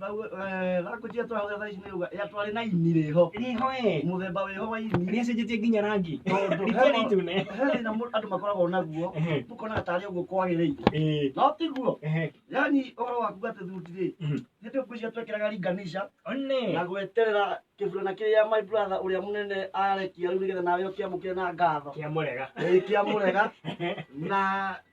Thau eh, rakũnjia tũrahũthĩra thaa ici nĩ uga ya twarĩ na ini rĩho Rĩho ĩ. mũthemba wĩho wa ini Nĩ acenjetie nginya rangi. tondũ Rĩtiarĩ he itune. he thĩna mũndũ- andũ makoragwo naguo Ehe. ũkonaga tarĩ ũguo kwagĩrĩire Ĩĩ. no tiguo Ehe. yani ũhoro waku atĩ thuti rĩ Mhm. nĩ tũkũicia twekĩraga ringanisha One. na gweterera kĩburana kĩrĩa my brother ũrĩa mũnene arekia rĩu nĩgetha nawe ũkĩamũkĩre na ngatho Kĩamũrega. Ĩĩ, kĩamũrega na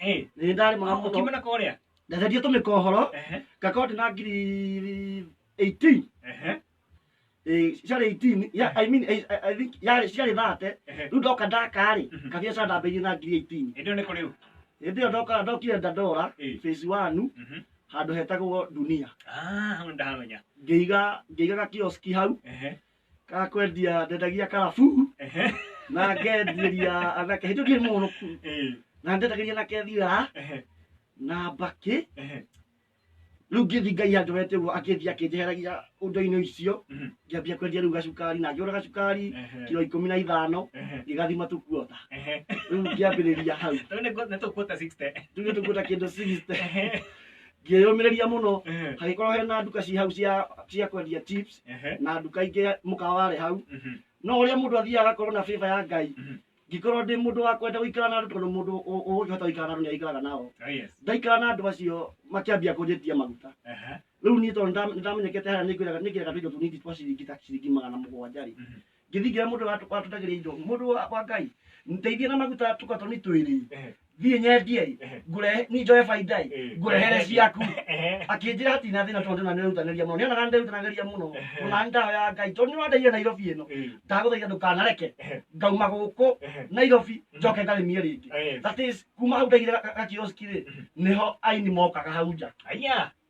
Ĩ, nĩ ndarĩ mũno mũno ũkĩmena kwa ũrĩa ndatharia tũmĩkohoro Ehe, ngakorwo ndĩ na ngiri 18 ehe, Eh, ciarĩ 18 ya- I mean, I- I- I think yarĩ ciarĩ thate ehe. rĩu ndoka ndakarĩ Mhm. kabiacara ndambĩirie na ngiri 18 Ĩndĩ ĩyo nĩ kũ rĩu hĩndĩ ĩyo ndoka ndokire ndandora Ĩ. phase one Mhm. handũ hetagwo dunia Ah, hau nĩ ndahamenya ngĩiga ngĩiga gakioski hau Ehe, ga kwendia ndendagia karabu Ehe. na ngendieria anake hĩndĩ ndirĩ mũrũku Eh, na ndendagĩria anake thira ehe, na mbakĩ ehe. rĩu ngĩthi ngai anjorete ũguo akĩthi akĩnjeheragia ũndũ-inĩ ũcio Mhm. ngĩambia kwendia rĩu gacukari na ngĩgũra gacukari Ehe. kiro ikũmi na ithano Ehe. ngĩgathima tũkuota Ehe. rĩu ngĩambĩrĩria hau Rĩu nĩ ngũ- nĩ tũkuota 60. tuge tũkuota kĩndũ sixty Ehe. ngĩyũmĩrĩria mũno Ehe. hagĩkorwo hena nduka ci hau cia cia kwendia chips Ehe. na nduka ingĩ mũkawa warĩ hau Mhm. no ũrĩa mũndũ athiaga agakorwo na bĩba ya ngai Mhm. ngĩkorwo ndĩ mũndũ wa kwenda gũikara na andũ tondũ mũndũ ũ- ũngĩhota gũikara na andũ nĩ aikaraga nao Oh, yes. ndaikara na andũ acio makĩambia kũnjĩtia maguta Ehe. rĩu niĩ tondũ nĩndam- nĩndamenyekete harĩa nĩngwĩraga nĩngĩraga tũindo tũnini twa ciringi ta ciringi magana mũgwanja rĩ Mhm. ngĩthingira mũndũ wa- watũtagĩria indo mũndũ wa wa ngai ndeithia na maguta tũkatoni twĩrĩ Ehe. thiĩ nyendie Ehe. ngũrehe ni njoe baindai Eh. ngũrehere ciaku Ehe. akĩnjĩra ati na thĩna tondũ na nĩrutanĩria mũno nĩonaga nĩrutanagĩria mũno Ehe. ona ndawa ya ngai tondũ nĩwandeire nairobi ĩno Eh. ndagũthaitha ndũkanareke Ehe. ngauma gũkũ Ehe. nairobi njoke ngarĩmie rĩngĩ Eh. that is kuma hau ndaigire gakioski rĩ nĩho aini mokaga hau nja Aya.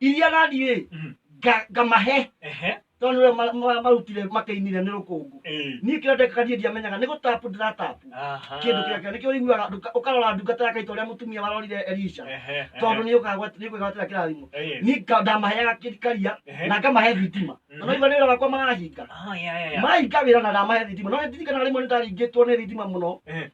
iria gathiĩ Mhm. nga- ngamahe Ehe. tondũ nĩwe ma- ma- marutire makĩinire nĩ rũkũngũ Ĩĩ. niĩ kĩrĩa ndekaga niĩ ndiamenyaga nĩ gũtapu ndĩratapu Aha. kĩndũ kĩrĩa kĩrĩa nĩkĩo ũiguaga ndũka- ũkarora ndungata yake ita ũrĩa mũtumia warorire elisha Ehe, ehe. tondũ nĩ ũkagwatĩra kĩrathimo Ĩĩ. niĩ nga- ndamaheaga kĩ- karia Ehe. na ngamahe thitima Mhm. na noigua nĩ wĩra wakwa marahinga Ah, ya, ya, ya. mahinga wĩra na ndamahe thitima no ndirikanaga rĩmwe nĩ ndaringĩtwo nĩ thitima mũno Ehe.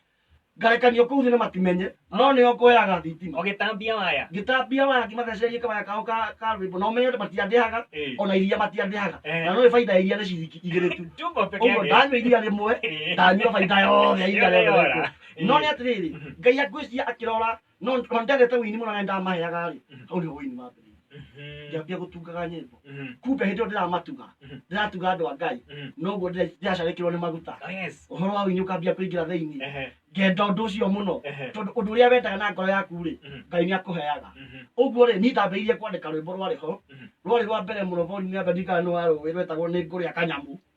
ngarekanio kũu thĩ na matimenye no nĩo ngoyaga thitima ũgĩtambia waya ngĩtambia waya ngĩmathecereria kawaya kao ka ka rwĩmbo na ũmenye atĩ matiandĩhaga Eh. ona iria matiandĩhaga Eh. na no baida ya iria nĩ ciringi igĩrĩ tu Tumbo peke ũguo yake. ndanyua iria rĩmwe Eh. ndanyua baida yothe ya iria Yothe rĩothe yora. rĩakwo. no nĩ atĩrĩrĩ ngai angwĩciria akĩrora no ona ndendete wini mũno na ndamaheaga rĩ Mhm. hau nĩho wini wambĩrĩirie Mhm. ngĩambia gũtungaga nyĩmbo Mhm. kumbe hĩndĩ ĩyo ndĩramatuga Mhm. ndĩratuga andũ a ngai Mhm. noguo ndĩra- ndĩracarĩkĩrwo nĩ maguta Oh, yes. ũhoro wa wini ũkambia kũingĩra thĩinĩ Ehe. ngenda ũndũ ũcio mũno Ehe. tondũ ũndũ ũrĩa wendaga na ngoro yaku rĩ Mhm. ngai nĩ akũheaga Mhm. ũguo rĩ niĩ ndambĩrĩirie kwandĩka rwĩmbo rwarĩ ho Mhm. rwarĩ rwa mbere mũno volume ya mbere ndirikana nĩ wa rũĩ rwetagwo nĩ ngũrĩa kanyamũ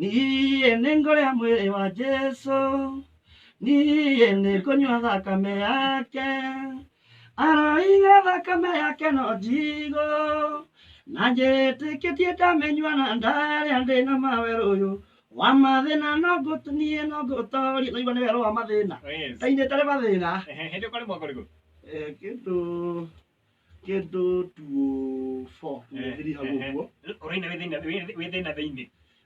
niĩ nĩ ngũrĩa mwĩrĩ wa jesu niĩ nĩ ngũnyua thakame yake aroire thakame yake no njigũ na njĩtĩkĩtie ndamenyua na ndarĩa ndĩ na mawerũyũ wa mathĩna no ngũt- niĩ no ngũtoria naigua nĩ werũ wa mathĩna Yes. ndainĩte nĩ mathĩna Ehe, hĩndĩ ũkarĩmwo ngorigũ Eh, kĩndũ kĩndũ tuo fo thiri hau ũguo Ũraina wĩ thĩna wĩ thĩna thĩinĩ.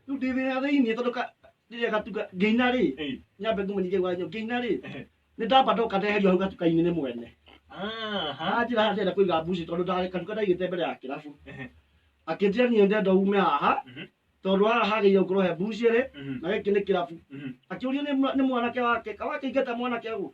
rĩu ndĩ thĩna thĩinĩ tondũ ka- rĩrĩa gatuka ngĩina rĩ Eh, nyambe ngũmenyithie gwanyo ngĩina rĩ eh. nĩ ndamba ndoka ndeherio hau gatuka-inĩ nĩ mwene Aha. anjĩra haha ndĩrenda kũiga mbuci tondũ nda- gatuka ndaigĩte mbere ya kĩrabu Ehe. akĩnjĩra niĩ ndenda ume haha Mhm. tondũ haha hagĩire gũkorwo he mbucĩrĩ Mhm. na gĩkĩ nĩ kĩrabu Mhm. akĩũrio nĩ mwa- nĩ mwanake wake kawakĩingata mwanake ũguo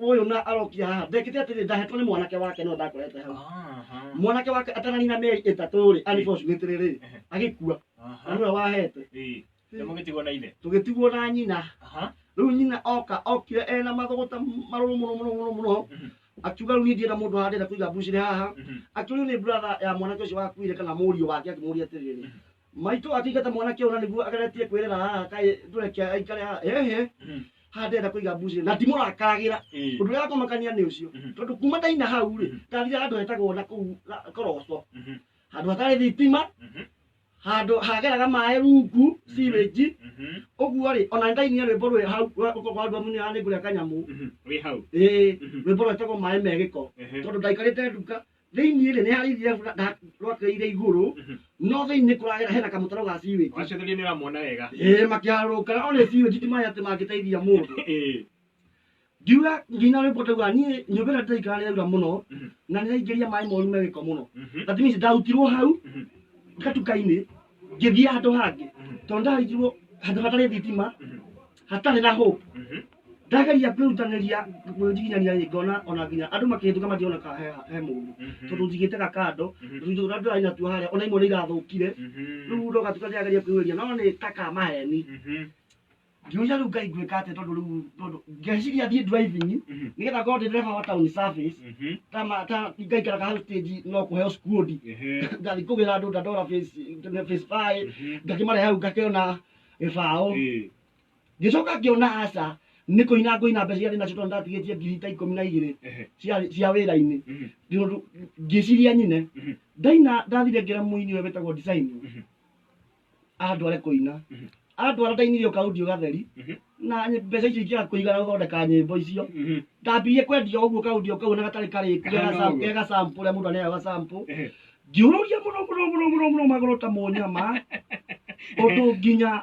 uyu na arokia haha ndekite atiri ndahetwo ni mwanake wake no ndakorete hau Aha. mwanake wake atananina meri itatu ri unfortunately ri Ehe. agikua na Aha. niwe wahete Ĩĩ. Nĩ mũgĩtigwo na ithe. tugitigwo na nyina Aha. riu nyina oka okire ena mathuguta maruru muno muno muno muno Mhm. akiuga riu ni ndienda mundu handire kuiga mbuciri haha Mhm. akiuria ni brother ya mwanake ucio wakuire kana murio wake akimuria atiriri Maitũ akĩingata mwanake ũna nĩguo ageretie kwĩrĩra haha kaĩ ndũreke aikare haha hehe Mhm. haha ndĩrenda kũiga mbucĩrĩ na ndimũrakaragĩra Ĩĩ. ũndũ ũrĩa wakũmakania nĩ ũcio Mhm. tondũ kuma ndaina hau rĩ Mhm. ndathire handũ hetagwo na kũu ga- koroco Mhm. handũ hatarĩ thitima Mhm. handũ hageraga maĩ rungu sewage Mhm. ũguo rĩ ona ndainia rwĩmbo rwĩ hau rwandu amunyo ya nĩngũrĩa kanyamũ Mhm. Wĩ hau. ĩĩ Mhm. rwĩmbo rwetagwo maĩ megĩko Ehe. tondũ ndaikarĩte nduka thĩinĩ rĩ nĩ harĩ iria rĩra- nda- rwakĩrĩire igũrũ Mhm. no thĩinĩ kũragera hena kamũtaro ga siwĩnji wacothĩrie nĩ ũramwona wega ĩĩ makĩharũrũka na one siwĩnji ti maĩ atĩ mangĩteithia mũndũ Ĩĩ. ndiuga nginya rwĩmbo tauga niĩ nyũmba ĩrĩa ndĩraikara nĩ yaura mũno Mhm. na nĩ yaingĩria maĩ moru me gĩko mũno Mhm. that means ndarutirwo hau Mhm. gatuka-inĩ ngĩthiĩ handũ hangĩ Mhm. tondũ ndarindirwo handũ hatarĩ thitima Mhm. hatarĩ na hope Mhm. ndageria kwĩrutanĩria kwĩnjiginyania rĩ ngona ona nginya andũ makĩhĩtũka matirona ka he he mũndũ tondũ njigĩte ka kando tũindo tũrĩa ndĩrarĩ natuo harĩa ona imwe nĩ irathũkire rĩu ndoka tuka ndĩrageria kwĩyũria no nĩ ta ka maheni ngiuria rĩu ngai ngwĩka atĩa tondũ rĩu tondũ ngeciria thiĩ driving nĩgetha ngorwo ndĩ ndereba wa town service ta ma- ta ngaikaraga hau stage no kũheo skundi ngathiĩ kũgĩra andũ ndandora face face five ngakĩmarehe hau ngakĩona gĩbaũ ngĩcoka ngĩona aca nĩ kũina ngũina mbeca iria ndĩ nacio tondũ ndatigĩtie ngiri ta ikũmi na igĩrĩ Ehe. cia- cia wĩra-inĩ Mhm. Tondũ ngĩciria nyine Mhm. ndaina ndathire ngĩra mũini ũyũ wĩtagwo design Mhm. andware kũina Mhm. andwara ndainire ũkaudio gatheri Mhm. na ny- mbeca icio ikĩaga kũigana gũthondeka nyĩmbo icio Mhm. ndambirie kwendia ũguo kaudio kau na gatarĩ karĩku Kahana gega- ũguo. gega sample ũrĩa mũndũ aneaga ga sample Ehe. ngĩũrũria mũno mũno mũno mũno mũno magũrũ ta mũnyama ũndũ nginya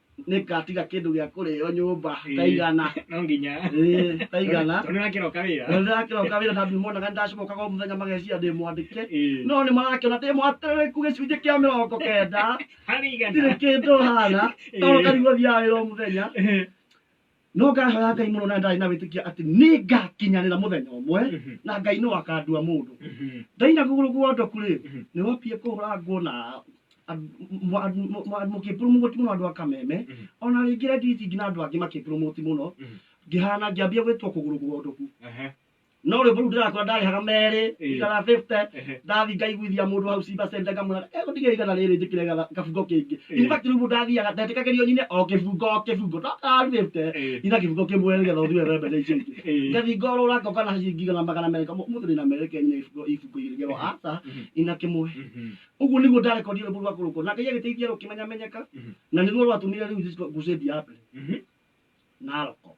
nĩngatiga kĩndũ gĩa kũrĩo nyũmba Ĩĩ. taigana no nginya Ĩĩ, taigana tondũ nĩrakĩroka wĩra na ndĩrakĩroka wĩra na ndimuonaga nĩndacimokaga o mũthenya mageciria ndĩmwandĩke Ĩĩ. no nĩ marakĩona ndĩ mwatereku gĩcunjĩ kĩa mĩrongo kenda harĩ ndirĩ igana kĩndũ hana Ĩĩ. tondũ karigwo thiaga wĩra o mũthenya no ngahoya ngai mũno na ndarĩ na wĩtĩkia atĩ nĩ ngakinyanĩra mũthenya ũmwe Mhm. na ngai no akandua mũndũ Mhm. ndaina kũgũrũ guondoku rĩ Mhm. nĩ wambie kũhũrangwo na mũkĩpurumũgũti mũno andũ a kameme Mhm. ona rĩngĩ redio ici ingĩ na andũ angĩ makĩpurumũgũti mũno Mhm. ngĩhana ngĩambia gwĩtwo kũgũrũ guondoku Ehe. no rwĩmbo rũu ndĩratua ndarĩhaga merĩ Ĩĩ. igana 50 Ehe. ndathi ngaiguithia mũndũ hau ciba cente ngamwĩra ego ndigĩra igana rĩrĩ njĩkĩre gatha- kabungo kĩngĩ Ĩĩ. in fact rĩu mũndũ athiaga ndetĩkagĩrio nyine o kĩbungo o kĩbungo no karu 50 Ĩĩ. ina kĩbungo kĩmwe nĩgetha ũthiwe wembe na icio ingĩ Ĩĩ. ngathi ngorũra ngoka na ciringi igana magana merĩ ngamo mũthĩ ndĩna merĩ ke nyine ibungo ibungo igĩrĩ ngerwo aca Mhm. ina kĩmwe Mhm. ũguo nĩguo ndarekondio rwĩmbo rwa kũrũkwo na ngai agĩteithia rũkĩmenyamenyeka Mhm. na nĩruo rwatũmire rĩu ngucĩndi ya mbere Mhm. naroko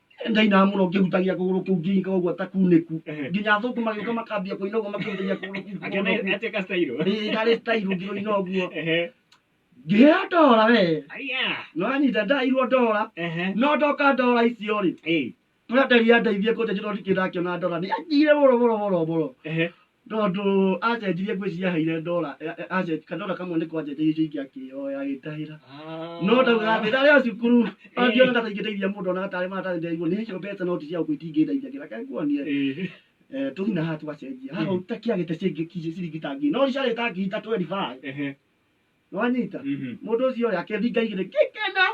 ndainaga muno ngĩhutagia kũgũrũ kũu nginyika ũguo ta kunĩku Ehe. nginya athũngũ magĩũka makambia kũina ũguo makĩhutagia kũgũrũ kũu Akĩona kũgũrũ atĩ gastairũ. kũu. Ĩĩ, karĩ tairũ ngĩrũina ũguo Ehe. ngĩheo ndora we Aya. no anyita ndairwo ndora Ehe. no ndoka ndora icio rĩ Ĩĩ. kũrĩa nderi yandeithie kũnja njĩra ndikĩndakĩona ndora nĩ anjire boro boro boro boro Ehe. Tondũ acenjirie nguo ici yaheire ndora, kandora kamwe nĩko acenjirie icio ingĩ akĩyoya agĩtahĩra. No ndaugaga atĩ ndarĩ o cukuru, angiona ta ingĩteithia mũndũ onaga tarĩ maratathi ndaigua nĩ icio mbeca no ti cia gũkũ itingĩndeithia kĩ, reke nguonie. Eh, tũthiĩ na haha tũgacenjia. Haha ũtakĩagĩte ciringi ta ngiri, no ciarĩ ta ngiri ithatũ we ndibae. nĩwanyita Mhm. mũndũ ũcio rĩ akĩringa igĩrĩ ngĩkena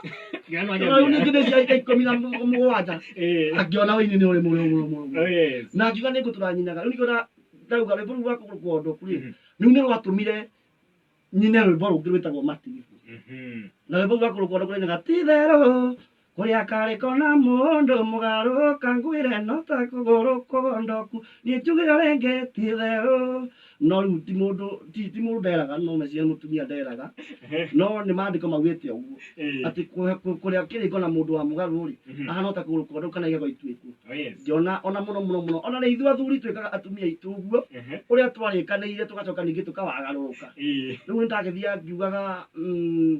Ngĩona no rĩu nyambia. ningĩ ndĩciaika ikũmi na mũ- mũgwanja Eh. akĩona ũini nĩ ũrĩ mũrĩ mũrĩ mũrĩ Oh, yes. na akiuga nĩ ngũtũra nyinaga rĩu nĩkĩona ndauga rwĩmbo rũu rwa kũgũrũkwo ũndũ kũrĩ Mhm. rĩu nĩ rwatũmire nyine rwĩmbo rũngĩ rwĩtagwo matiribu Mhm. na rwĩmbo rũu rwa kũgũrũkwo ũndũ kũrĩ nyaga ti therũ Kũrĩa karĩko na mũndũ mũgarũ kangwĩre no ta kũgũrũ kũgondoku niĩ njugĩre rĩngĩ ti therũ no rĩu ti mũndũ ti ti mũndũ nderaga no meciria nĩ mũtumia nderaga no nĩ maandĩko maugĩte ũguo Eh. atĩ kũ- kũ- kũrĩa kĩrĩko na mũndũ wa mũgarũ rĩ Mhm. ahana o ta kũgũrũ kũgondoku kana igego ituĩku Oh, yes. ngĩona ona mũno mũno mũno ona rĩ ithuĩ athuri twĩkaga atumia aitũ ũguo Ehe. ũrĩa twarĩkanĩire tũgacoka ningĩ tũkawagarũrũka Ĩĩ. rĩu nĩ ndagĩthiaga ngiugaga mm,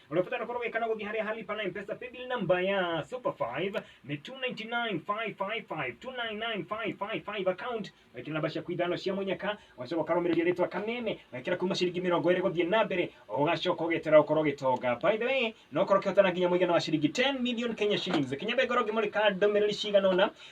Unafuta na koroga ikana gogi haria hali pana mpesa paybill number ya Super 5 ni 299555 299555 account wekira namba ciaku ithano cia munyaka wacoka ukarumiria ritwa kameme wekira kuma ciringi mirongo iri guthie na mbere ugacoka ugitira ukorwo gitonga by the way no korwo kihotana nginya muigana wa ciringi 10 million Kenya shillings kinya be ngoro ngimurika ndumiriri cigana ona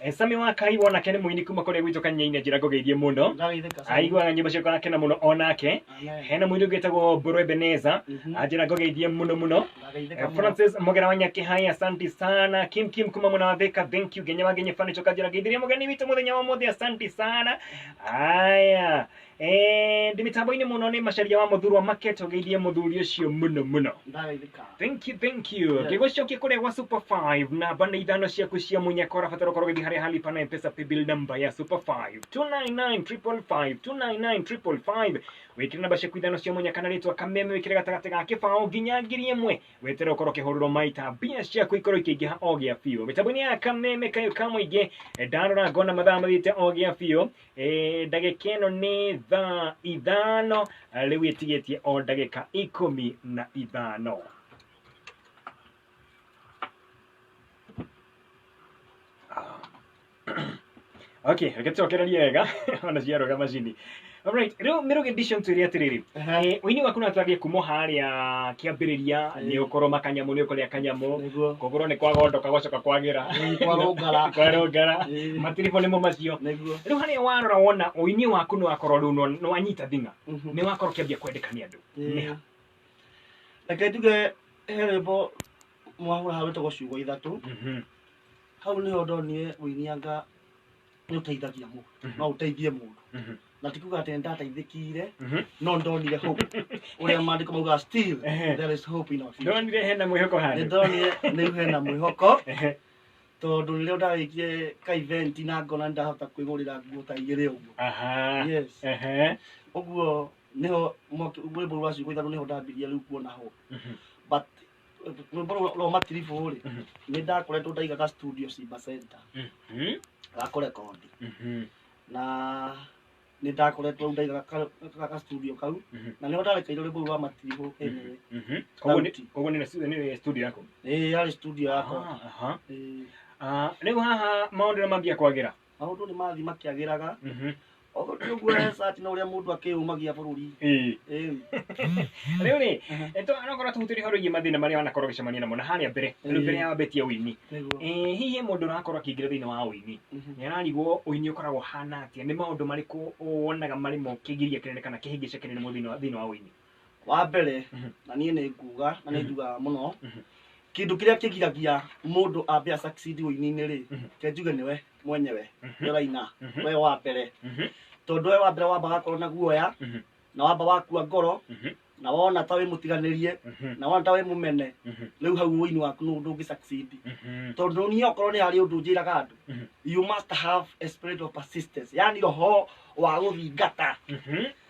Eh, Sami wa Kai wonake nĩ mũini kuma kũrĩa gwitũ kanyainĩ njĩra ngũgeithie mũno Ndagĩthĩka sana. aiguaga nyĩmbo ciakwa akena mũno onake Amen. hena mũini ũngĩ wĩtagwo Mbũrũ Ebeneza Mhm. anjĩra ngũgeithie mũno mũno Ndagĩthĩka Eh, mũno. Francis Mogera wa Nyakĩhai asante sana Kim Kim kuma mwena wa Thika thank you Genya wa Genye Furniture kanjĩra ngeithĩria mũgeni witũ mũthenya wa ũmũthĩ asante sana aya Eh, ndi mitambo-inĩ mũno nĩ macaria wa mũthurwa market ũgeithie mũthuri ũcio mũno mũno ndagaithika Thank you, thank you. Yes. Ngĩgũcokia kũrĩa gwa Super 5 na banda ithano ciaku cia munyaka ũrabatara ũkorwo ũgĩthiĩ harĩa halipa na mpesa paybill number ya Super 5 299555 299555 wĩkĩre namba ciaku ithano cia munyaka na rĩtwa kameme wĩkĩre gatagatĩ ga kĩbaũ nginya ngiri ĩmwe wetere ũkorwo ũkĩhũrĩrwo maita mbia ciaku ikorwo ikĩingĩha o gĩa biũ mĩtambo-inĩ ya kameme kayo ka mũingĩ ndarora ngona mathaa mathiĩte o gĩa biũ Eh, ndagĩka ĩno nĩ thaa ithano rĩu ĩtigĩtie o ndagĩka ikũmi na ithano okay reke tũcokererie wega ona ciarũga macini Alright, rĩu mĩrũgĩ edition twĩre atĩrĩrĩ Harĩ ũini waku na twambie kuma harĩa kĩambĩrĩria Ĩĩ. nĩ ũkorwo makanyamũ nĩ ũkorĩa kanyamũ Nĩguo. kũgũrwo nĩ kwagondoka gwacoka kwagĩra Ĩĩ, kwarũngara. kwarũngara Ĩĩ. matiribũ nĩmo macio Nĩguo. rĩu harĩa warora wona ũini waku nĩ wakorwo rĩu nĩ- nĩ wanyita thing'a Mhm. nĩ wakorwo ũkĩambia kwendeka nĩ andũ Ĩĩ. Nĩ ha? Reke njuge he rwĩmbo mwahũra hau rwĩtagwo ciugo ithatũ Mhm. hau nĩho ndonire ũinianga nĩ ũteithagia mũndũ Mhm. no ũteithie mũndũ Mhm. na ti kuga atĩ nĩ ndateithĩkire Mhm. no nĩ ndonire hope ũrĩa maandĩko mauga still Ehe. there is hope in our future ndonire hena mwĩhoko nĩ handũ ndonire nĩ rĩu hena mwĩhoko Ehe. tondũ rĩrĩa ndarĩkie ka event na ngona nĩ ndahota kwĩgũrĩra nguo ta igĩrĩ ũguo aha yes Ehe. ũguo nĩho mwaki- rwĩmbo rwa ciugo ithatũ nĩho ndambirie rĩu kuona ho Mhm. but rwĩmbo rũu rwa matiribu rĩ Mhm. nĩ ndakoretwo ndaigaga studio simba center Mhm. gakore kondi Mhm. na nĩ ndakoretwo ndaigaga ka- ka- ka studio kau Mhm. na nĩho ndarekeire rwĩmbo rũu rwa matiribu ĩnĩ Mhm. Koguo nĩ- Sauti. koguo nĩ stu- nĩ studio yako ĩĩ yarĩ studio yakwa Ah, aha. Ĩĩ. Ah, rĩu haha maũndũ nĩ mambia kwagĩra maũndũ nĩ mathiĩ makĩagĩraga Mhm. ogo ti ũguo resati na ũrĩa mũndũ akĩyũmagia bũrũri Ĩĩ. Ĩĩ. rĩu rĩ nokorwo tũhutĩrie horo igiĩ mathĩna marĩa wanakorwo ũgĩcemania namo na harĩa mbere rĩu Ĩĩ. mbere ya wambetie ũini Nĩguo. Eh, hihi mũndũ ũrakorwo akĩingĩra thĩinĩ wa ũini Mhm. nĩ ararigwo ũini ũkoragwo ũhana atĩa nĩ maũndũ marĩkũ wonaga marĩ mo kĩgiria kĩnene kana kĩhĩngĩca kĩnene mũno thĩinĩ wa- thĩinĩ wa ũini wa mbere na niĩ nĩ nguga na nĩ njugaga mũno kĩndũ kĩrĩa kĩgiragia mũndũ ambe a succeed ũini-inĩ rĩ ke njuge nĩwe mwenyewe nĩ ũraina we wa mbere tondũ we wa mbere wamba gakorwo na guoya na wamba wakua ngoro na wona ta wĩ mũtiganĩrie na wona ta wĩ mũmene rĩu hau ũini waku nĩ ndũngĩ succeed tondũ niĩ okorwo nĩ harĩ ũndũ njĩraga andũ you must have a spirit of persistence yani roho wa gũthingata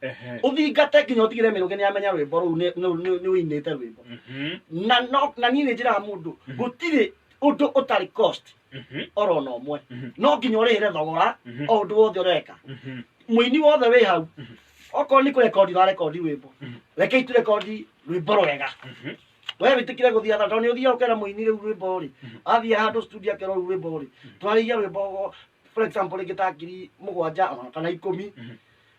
Ehe. ũthingate nginya ũtigire mĩrũgĩ nĩ amenya rwĩmbo rũu nĩ- nĩ- nĩ- nĩ ũinĩte rwĩmbo Mhm. na no- na niĩ nĩ njĩraga mũndũ Mhm. gũtirĩ ũndũ ũtarĩ cost Mhm. oro na ũmwe Mhm. no nginya ũrĩhĩre thogora Mhm. o ũndũ wothe ũreka Mhm. mũini wothe wĩ hau Mhm. okorwo nĩ kũrekondi ũrarekondi rwĩmbo Mhm. rekei tũrekondi rwĩmbo rwega Mhm. we wĩtĩkire gũthiĩ atha tondũ nĩ ũthiaga ũkera mũini rĩu rwĩmbo rĩ athiĩ handũ studio akerwo rĩu rwĩmbo rĩ twarĩirie rwĩmbo for example rĩngĩ ta ngiri mũgwanja ona kana ikũmi Mhm.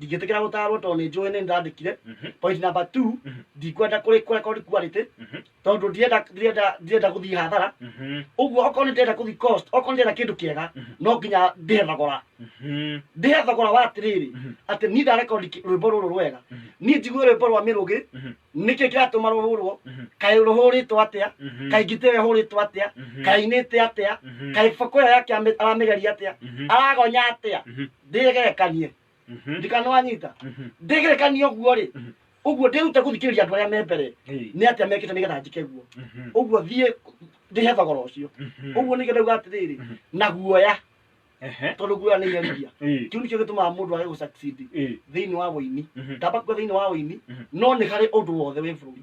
ndingĩtĩkĩra gũtarwo tondũ nĩ njũĩ nĩ ndĩrandĩkire Mhm. point number two Mhm. ndikwenda kũrĩ kũrekodi quality Mhm. tondũ ndirenda ndirenda ndirenda gũthiĩ hathara Mhm. ũguo okorwo nĩ ndĩrenda gũthiĩ cost okorwo nĩ ndĩrenda kĩndũ kĩega Mhm. no nginya ndĩhe thogora Mhm. ndĩhe thogora wa atĩrĩrĩ Mhm. atĩ niĩ ndarekondi kĩ- rwĩmbo rũrũ rwega Mhm. niĩ njigue rwĩmbo rwa mĩrũgĩ Mhm. nĩkĩ kĩratũma rũhũrwo Mhm. kaĩ rũhũrĩtwo atĩa Mhm. kaĩ ngite ĩyo ĩhũrĩtwo atĩa Mhm. kaĩ inĩte atĩa Mhm. kaĩ boko ĩyo yake amĩ- aramĩgeria atĩa Mhm. aragonya atĩa Mhm. ndĩgerekanie Mhm. ndikanwanyita Mhm. ndĩgerekanie ũguo rĩ Mhm. ũguo ndĩrute gũthikĩrĩria andũ arĩa me mbere Ĩĩ. nĩ atĩa mekĩte nĩgetha njĩke guo Mhm. ũguo thiĩ ndĩhe thogora ũcio Mhm. ũguo nĩkĩo ndauga atĩrĩrĩ Mhm. na guoya Ehe. tondũ guoya nĩ iherithia Ĩĩ. kĩu nĩkĩo gĩtũmaga mũndũ age gũsucceed Ĩĩ. thĩinĩ wa ũini Mhm. ndamba kuga thĩinĩ wa ũini Mhm. no nĩ harĩ ũndũ wothe wĩ bũrũri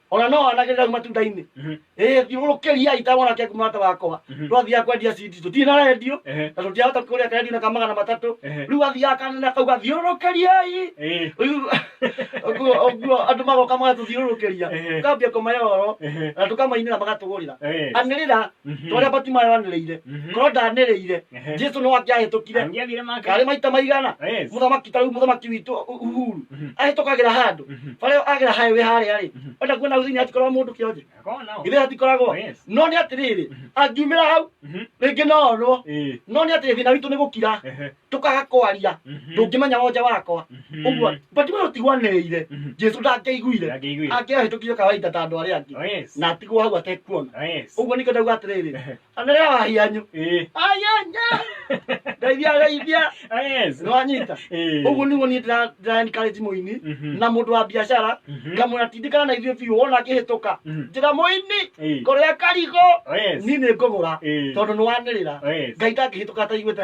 ona no anake rau matunda-inĩ Mhm. ĩ thiũrũrũkĩria itawona kĩa kumata wakwa Mhm. twathiaga kwendia cindi tũtirĩ na rendio Ehe. na tũtiahota kũrĩa kendio na kamagana matatũ Ehe. rĩu athiaga kanene kau gathiũrũrũkĩriai Eh. Rĩu ũguo ũguo andũ magoka magatũthiũrũrũkĩria Ehe. tukambia kũmayorwo Ehe. na tũkamainĩra magatũgũrĩra Eh. anĩrĩra Mhm. torĩa batimayo anĩrĩire Mhm. korwo ndanĩrĩire Ehe. jesu no angĩahĩtũkire Angĩathire make. karĩ maita maigana Yes. mũthamaki tarĩu mũthamaki witũ Ũ- uhuru Mhm. ahĩtũkagĩra handũ Mhm. barĩa agĩra highway harĩa rĩ Mhm. enda kuona thĩinĩ hatikoragwo mũndũ kĩonje Akorwo nao. githĩ hatikoragwo Yes. no nĩ atĩrĩrĩ angiumĩra hau Mhm. rĩngĩ no onwo Eh. no nĩ atĩrĩ thĩna witũ nĩ gũkira Ehe. tũkaga kwaria Mhm. ndũngĩmenya wonja wakwa Mhm. ũguo but we ũtigwanĩrĩire Mhm. jesu ndangĩiguire Ndangĩiguire. angĩahĩtũkire kawaida ta andũ arĩa angĩ Oh, yes. na atigwo hau atekuona Oh, yes. ũguo nĩkĩo ndauga atĩrĩrĩ anĩrĩa wahianyu Eh. ayanya ndeithia ndeithia Oh, yes. nĩwanyita Eh. ũguo nĩguo niĩ ndĩra- ndĩraencourage mũini Mhm. na mũndũ wa biacara Mhm. ngamwĩra tindĩkana na ithuĩ biũ wona akĩhĩtũka Mhm. njĩra mũini Eh. kũrĩa karigũ Oh, yes. niĩ nĩ ngũgũra Eh. tondũ nĩ wanĩrĩra Oh, yes. ngai ndangĩhĩtũka ataiguĩte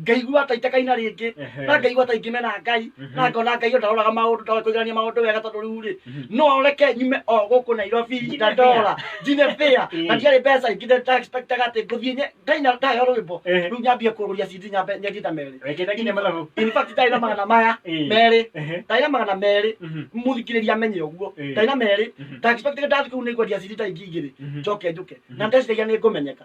ngaigua ta itekaina rĩngĩ Ehe. na ngaigua ta ingĩmena ngai Mhm. na ngona ngai o ndaroraga maũndũ ndoĩ kũiganania maũndũ wega tondũ rĩu rĩ Mhm. no reke nyume o gũkũ nairobi Njine na ndora njine bĩa Eh. na ndiarĩ mbeca ingĩ ndexpectaga atĩ ngũthiĩ nye- ndaina ndayo rwĩmbo Ehe. rĩu nyambie kũrũria cindi nyambe nyendie ta merĩ Wekĩte nginya mathabu. in fact ndarĩ na magana maya Eh. merĩ Ehe. ndarĩ na magana merĩ Mhm. mũthikĩrĩria amenye ũguo Eh. ndarĩ na merĩ Mhm. ndaexpectaga ndathi kũu nĩngwendia cindi ta ingĩ igĩrĩ Mhm. njoke njũke Mhm. na ndeciragia nĩ ngũmenyeka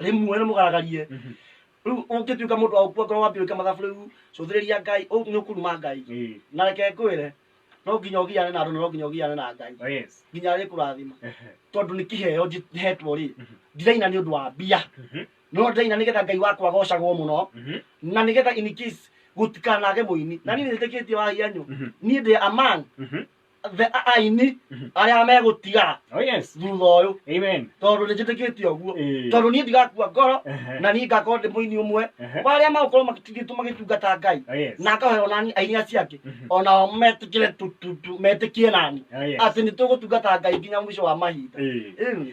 rĩmwe nĩ mũgaragarie Mhm. rĩu ũngĩtuĩka mũndũ wa gũkua ngoro wambia gwĩka mathabu rĩu cũthĩrĩria ngai ũ- nĩ ũkuruma ngai Eh, na reke ngwĩre no nginya ũgiane na andũ na no nginya ũgiane na ngai oh yes. nginya arĩkũrathima Ehe. tondũ nĩ kĩheo njĩ- hetwo rĩ Mhm. ndiraina nĩ ũndũ wa mbia Mhm. no ndĩraina nĩgetha ngai wakwa agocagwo mũno Mhm. na nĩgetha in case gũtikanage mũini na niĩ nĩtĩkĩtie wahia nyũ Mhm. niĩ ndĩ among Mhm. the- a- aini Mhm. arĩa megũtigara Oh yes. thutha ũyũ Amen. tondũ nĩ njĩtĩkĩtie ũguo Eh. tondũ niĩ ndigakua ngoro Ehe. na niĩ ngakorwo ndĩ mũini ũmwe Ehe. wa arĩa magũkorwo matigĩtwo magĩtungata ngai Oh yes. na ngahoyo nani aini acio angĩ Mhm. onao metĩkĩre tu- tu- tu- metĩkie nani Oh yes. atĩ nĩ tũgũtungata ngai nginya mũico wa mahinda Eh. Ĩĩ.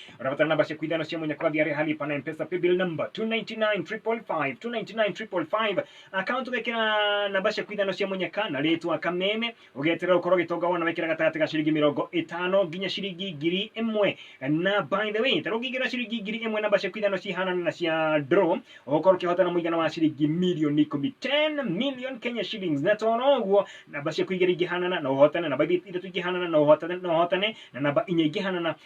Unapata namba siku idhano simu yenye kodi ya rehali pana mpesa paybill number 299555 299555 account ugekera namba siku idhano simu yenye kana letwa kameme ugetera ukoro gitonga wona wekera gatagati ga ciringi mirongo itano nginya ciringi ngiri imwe na by the way tero ngigira ciringi ngiri imwe namba siku idhano cihana na cia draw ukoro kihota na muigana wa ciringi milioni 10 10 million Kenya shillings na toro uguo namba siku igiri ingihanana na uhotane namba ithatu ingihanana na uhotane na uhotane na namba inya ingihanana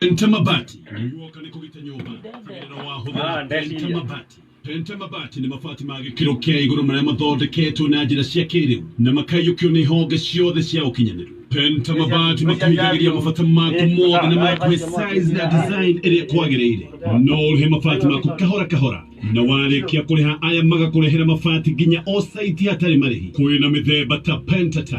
Penta mabati nĩguoka nĩ kũgita nyũmba tigĩrĩra Ah, wahũthĩra ndeciria. penta mabati penta mabati nĩ mabati ma gĩkĩro kĩa igũrũ marĩa mathondeketwo na njĩra cia kĩrĩu na makaiyũkio nĩ honge ciothe cia ũkinyanĩru penta mabati makuhingagĩria mabata maku mothe na makuhe size na design ĩrĩa kwagĩrĩire no ũrĩhe mabati maku kahora kahora na warĩkia kũrĩha aya magakũrehera mabati nginya o saiti hatarĩ marĩhi kwĩna mĩthemba ta pentatile